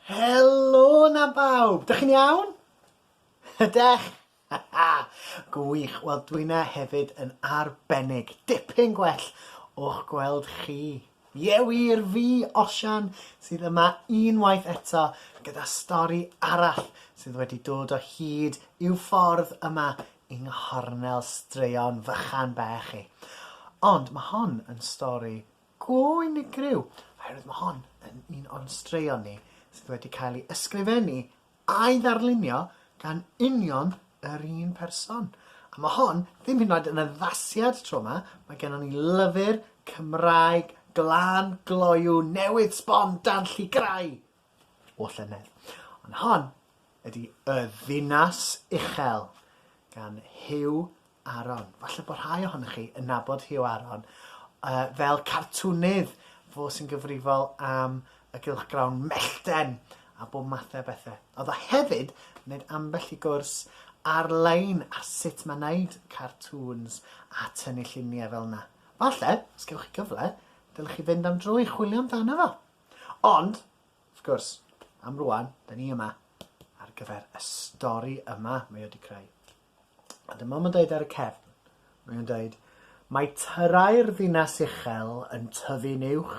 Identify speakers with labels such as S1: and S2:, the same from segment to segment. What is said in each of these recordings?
S1: Helo 'na bawb! Dych chi'n iawn? Ydech? Gwych, wel dwyna hefyd yn arbennig. Dipyn gwell o'ch gweld chi. Ie wir, fi, Osian, sydd yma unwaith eto gyda stori arall sydd wedi dod o hyd i'w ffordd yma yng nghornel straeon fychan bach i. Ond mae hon yn stori go unigryw oherwydd mae hon yn un o'n straeon ni sydd wedi cael ei ysgrifennu a'i ddarlunio gan union yr un person. A mae hon ddim hyd yn oed yn addasiad tro yma, mae gennon ni lyfr Cymraeg glân gloyw newydd sbon dan llygrau! o llynedd. Ond hon ydy Y Ddinas Uchel gan Huw Aron. Falle bod rhai ohonych chi yn nabod Huw Aron uh, fel cartwnydd fo sy'n gyfrifol am y gylchgrawn mellten a bob mathau bethau. Oedd o hefyd wneud ambell i gwrs ar-lein ar sut mae wneud cartŵns a tynnu lluniau fel yna. Falle, os gewch chi gyfle, dylech chi fynd am dro i chwilio amdano fo. Ond, wrth gwrs, am rwan, da ni yma ar gyfer y stori yma mae wedi creu. A dyma mae'n dweud ar y cefn, mae'n dweud, mae tyrau'r ddinas uchel yn tyfu'n uwch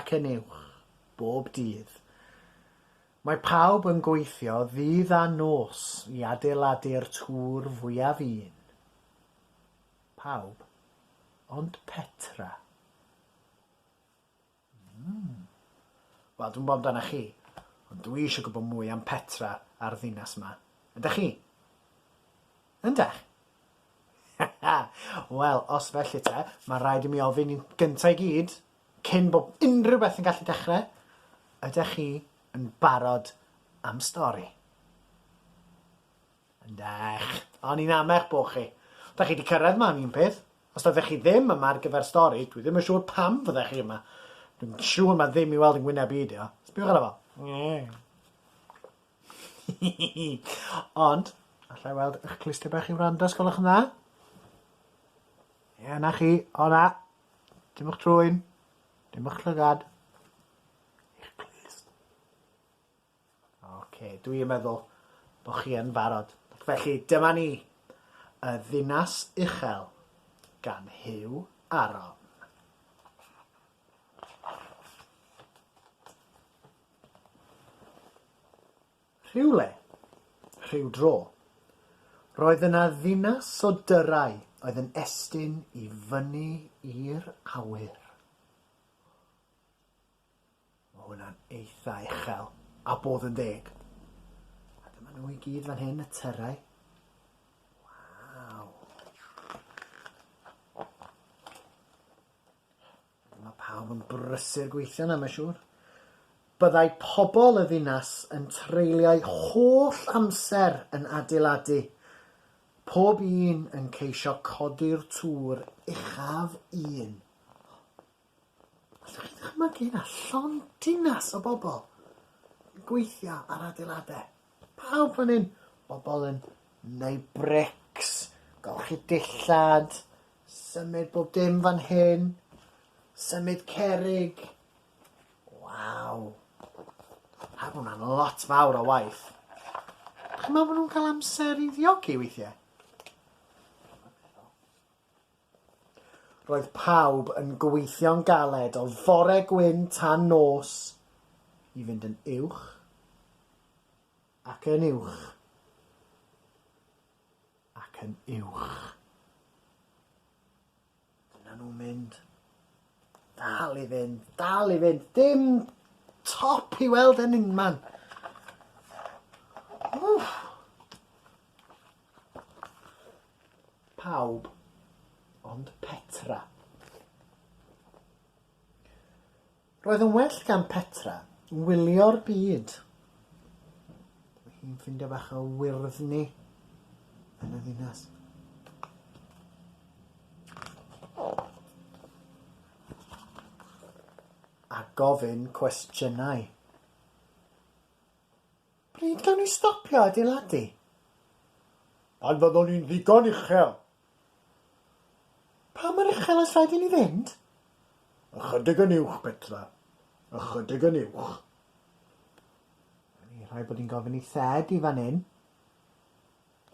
S1: ac yn uwch bob dydd. Mae pawb yn gweithio ddydd a nos i adeiladu'r tŵr fwyaf un. Pawb ond Petra. Hmm. Wel, dwi'm 'bo' amdanach chi, ond dwi isio gwbo mwy am Petra a'r ddinas 'ma. Ydach chi? Yndach? Wel, os felly te, ma' raid i mi ofyn yn gynta' i gyd, cyn bo' unrhyw beth yn gallu dechre, ydach chi yn barod am stori? Ydych. O'n i'n amech bo chi. Dach chi 'di cyrraedd ma am un peth. Os doeddech chi ddim yma ar gyfer stori, dwi ddim yn siŵr pam fyddech chi yma. Dwi'n siŵr ma ddim i weld yn ngwyneb i 'di o. Sbiwch arno fo. Ond, allai weld ych clustiau bach i wrando os gwelwch yn dda? Ie, 'na chi. O na. Dim o'ch trwyn. Dim o'ch llygad. Eich clust. Ocê, dwi yn meddwl bod chi yn barod. Felly, dyma ni. Y Ddinas Uchel, gan Huw Aron. Rhywle, rhyw dro, roedd yna ddinas o dyrau oedd yn estyn i fyny i'r awyr. Mae hwnna'n eitha uchel, a bod yn deg. A dyma nhw i gyd fan hyn, y tyrau. Waw. Mae pawb yn brysur gweithio na, mae'n siŵr. Byddai pobl y ddinas yn treulio'i holl amser yn adeiladu, pob un yn ceisio codi'r tŵr uchaf un. Allwch chi ddychmygu na llond dinas o bobl yn gweithio ar adeiladau? Pawb fan hyn, bobl yn neud brics, golchi dillad, symud bob dim fan hyn, symud cerrig. Waw. Pa bod hwnna'n lot fawr o waith. Chi'n meddwl bod nhw'n cael amser i ddiogi weithiau? Roedd pawb yn gweithio'n galed o fore gwyn tan nos i fynd yn uwch ac yn uwch ac yn uwch. Dyna nhw'n mynd. Dal i fynd, dal i fynd. Dim top i weld yn unman. Wff. Pawb ond Petra. Roedd yn well gan Petra wylio'r byd. Mae hi'n ffindio bach o wyrddni yn y ddinas. a gofyn cwestiynau. Pryd gawn ni stopio adeiladu? Pan fyddwn ni'n ddigon uchel. Pa mor uchel oes rhaid i ni fynd? Ychydig yn uwch, Petra. Ychydig yn uwch. Rhaid bod ni'n gofyn i Thed i fan hyn.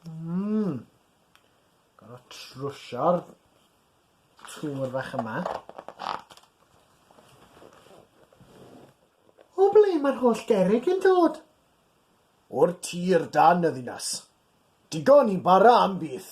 S1: Mmm! Gorfod trwsio'r twr fach yma. O ble mae'r holl gerrig yn dod? O'r tir dan y ddinas. Digon i bara am byth.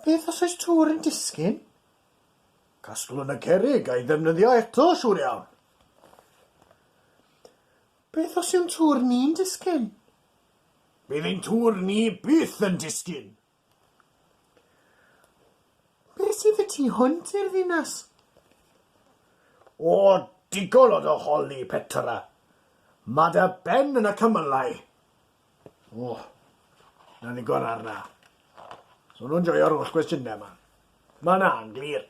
S1: Beth os oes twr yn disgyn? Casglwn y cerrig a'i ddefnyddio eto, siŵr iawn. Beth os yw'n tŵr ni'n disgyn? Bydd ein tŵr ni byth yn disgyn! Be' sydd y tu hwnt i'r ddinas? O, digon o dy holi, Petra! Ma' dy ben yn y cymylau! O, 'na ddigon ar 'na. So nhw'n joio'r holl gwestiynau 'ma. Ma' 'na'n glir.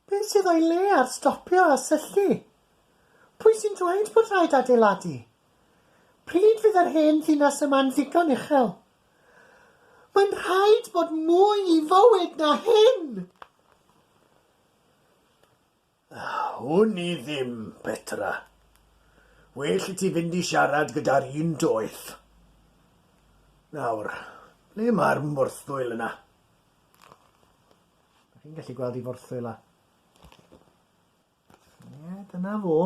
S1: Beth sydd o'i le ar stopio a syllu? Pwy sy'n dweud bod rhaid adeiladu? Pryd fydd yr hen ddinas yma'n ddigon uchel? Mae'n rhaid bod mwy i fywyd na hyn! Wn i ddim, Petra. Well i ti fynd i siarad gyda'r un doeth. Nawr, ble mae'r morthwyl yna? Dach chi'n gallu gweld i forthwyl a... Ie, dyna fo.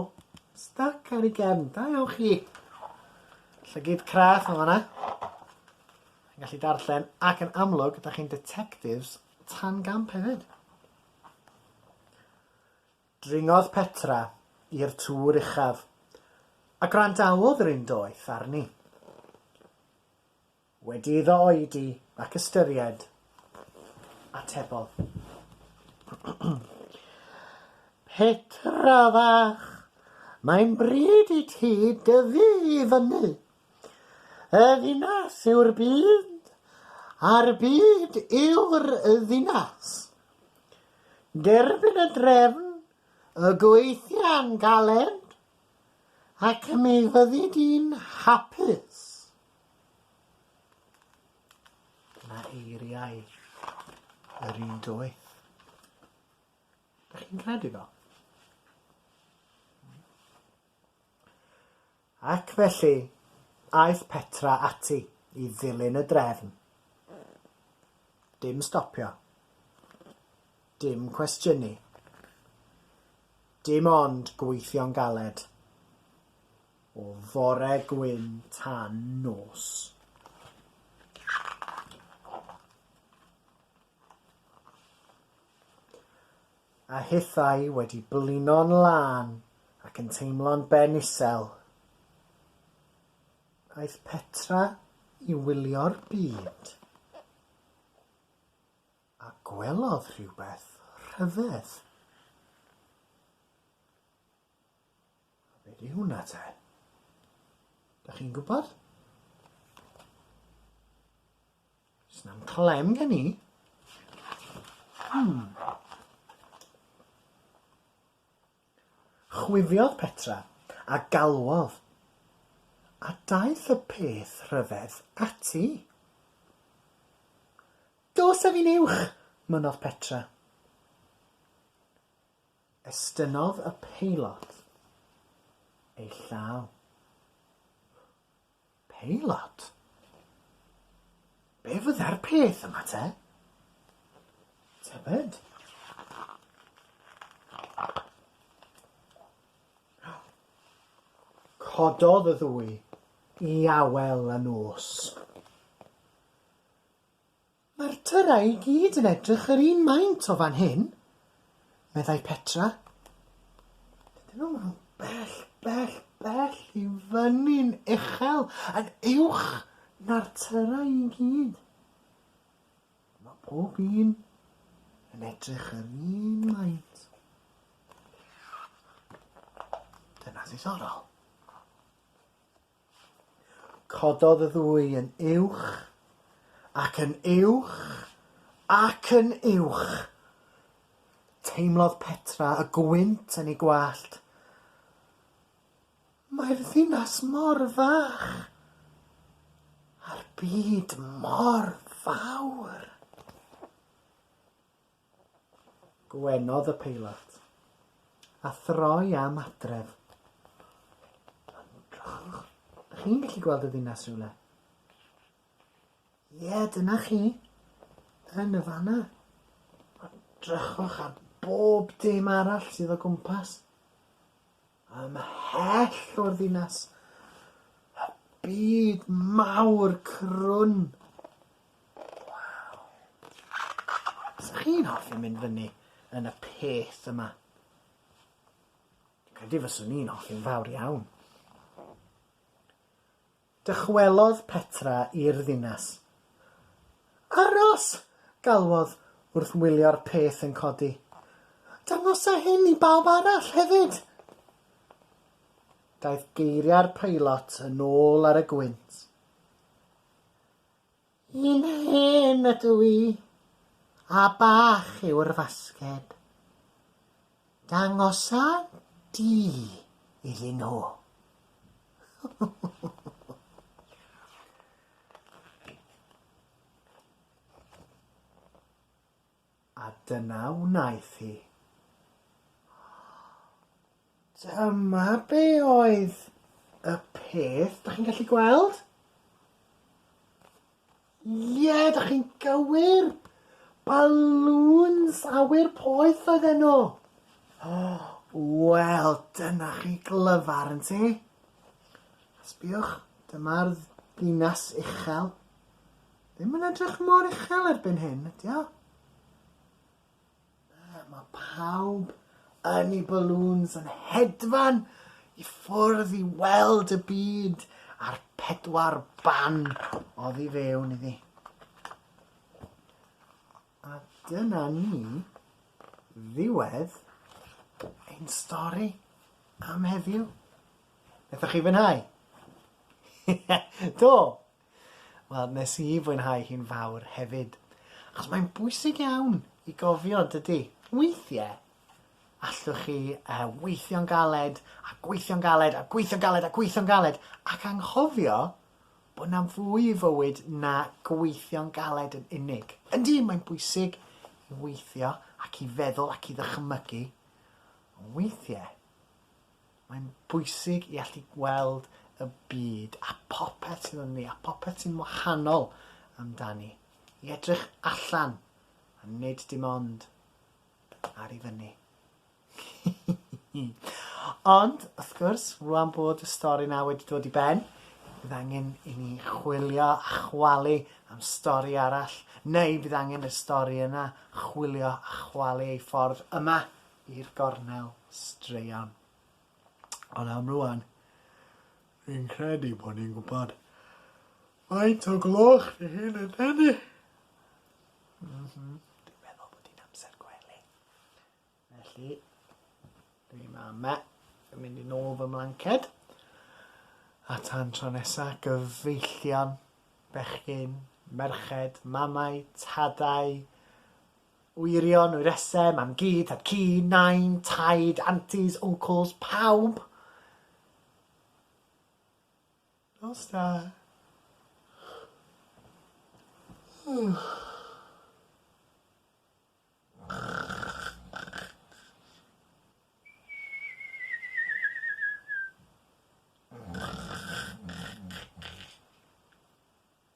S1: Stuck ar ei gefn. Da iawn chi. Llygyd craff yn fanna. Yn gallu darllen ac yn amlwg, da chi'n detectives tan gamp hefyd. Dringodd Petra i'r tŵr uchaf, a gwrandawodd yr un doeth arni. Wedi iddo oedi ac ystyried, atebodd. Petra fach, mae'n bryd i ti dyfu i fyny. Y ddinas yw'r byd, a'r byd yw'r ddinas. Derbyn y drefn, y gweithia'n galed, ac mi fyddi di'n hapus. Dyna eiriau yr un doeth. Da chi'n credu fo? Ac felly, aeth Petra ati i ddilyn y drefn. Dim stopio. Dim cwestiynu. Dim ond gweithio'n galed. O fore gwyn tan nos. A hithau wedi blino'n lân ac yn teimlo'n ben isel, aeth Petra i wylio'r byd, a gwelodd rhywbeth rhyfedd. A be di hwnna te? Dach chi'n gwybod? Snam clem gen i. Hmm. Chwifiodd Petra a galwodd, a daeth y peth rhyfedd ati. Dos â fi'n uwch, mynnodd Petra. Estynnodd y peilot ei llaw. Peilot? Be' fydde'r peth yma te? Tybed? Cododd y ddwy i awel y nos. Mae'r tyrau i gyd yn edrych yr un maint o fan hyn, meddai Petra. Dyn nhw'n rhyw bell, bell, bell i fyny'n uchel, yn uwch na'r tyrau i gyd. Mae pob un yn edrych yr un maint. Dyna ddiddorol. Cododd y ddwy yn uwch, ac yn uwch, ac yn uwch. Teimlodd Petra y gwynt yn ei gwallt. Mae'r ddinas mor fach, a'r byd mor fawr. Gwenodd y peilot, a throi am adref. Ymdrochwch. Ych chi'n gallu gweld y ddinas rhywle? Ie, dyna chi. Yn y fanna. Ymdrochwch ar bob dim arall sydd o gwmpas. Ymhell o'r ddinas, y byd mawr crwn. Waw. Sa chi'n hoffi mynd fyny yn y peth yma? Credu fyswn i'n hoffi'n fawr iawn. Dychwelodd Petra i'r ddinas. Aros! galwodd, wrth wylio'r peth yn codi. Dangosa hyn i bawb arall hefyd! Daeth geiriau'r peilot yn ôl ar y gwynt. Ni'n hen ydw i, a bach yw'r fasged. Dangosa di iddyn nhw. A dyna wnaeth hi. Dyma be oedd y peth, da chi'n gallu gweld? Ie, da chi'n gywir! Balŵns awyr poeth oedd enw. Wel, dyna chi glyfar yn ti. Sbiwch, dyma'r ddinas uchel. Ddim yn edrych mor uchel erbyn hyn, ydy o? Na, ma' pawb yn 'u balŵns yn hedfan i ffwrdd i weld y byd a'r pedwar ban oddi fewn iddi. A dyna ni ddiwedd ein stori am heddiw. Nethoch chi fwynhau? Do, Wel, nes i fwynhau hi'n fawr hefyd. Achos mae'n bwysig iawn i gofio, dydy? Weithie, allwch chi uh, weithio'n galed, a gweithio'n galed, a gweithio'n galed, a gweithio'n galed, ac anghofio bod na fwy i fywyd na gweithio'n galed yn unig. Yndi, mae'n bwysig i weithio ac i feddwl ac i ddychmygu, ond weithie, Mae'n bwysig i allu gweld y byd a phopeth sydd ynddi a phopeth sy'n wahanol amdani. I edrych allan a nid dim ond ar i fyny. Ond, wrth gwrs, rwan bod y stori na wedi dod i ben, bydd angen i ni chwilio a chwalu am stori arall, neu bydd angen y stori yna chwilio a chwalu ei ffordd yma i'r gornel straeon. Ond am rwan, fi'n credu bod ni'n gwybod faint o gloch fi hyn yn tynnu. Mm -hmm. Dwi'n meddwl bod hi'n amser gwely. Felly, dwi'n ma yma, dwi'n mynd i nôl fy mlanced. A tan tro nesa, gyfeillion, bechgyn, merched, mamau, tadau, Wyrion, wyresau, mam-gu, tad-cu, nain, taid, antis, uncles, pawb! Nos da.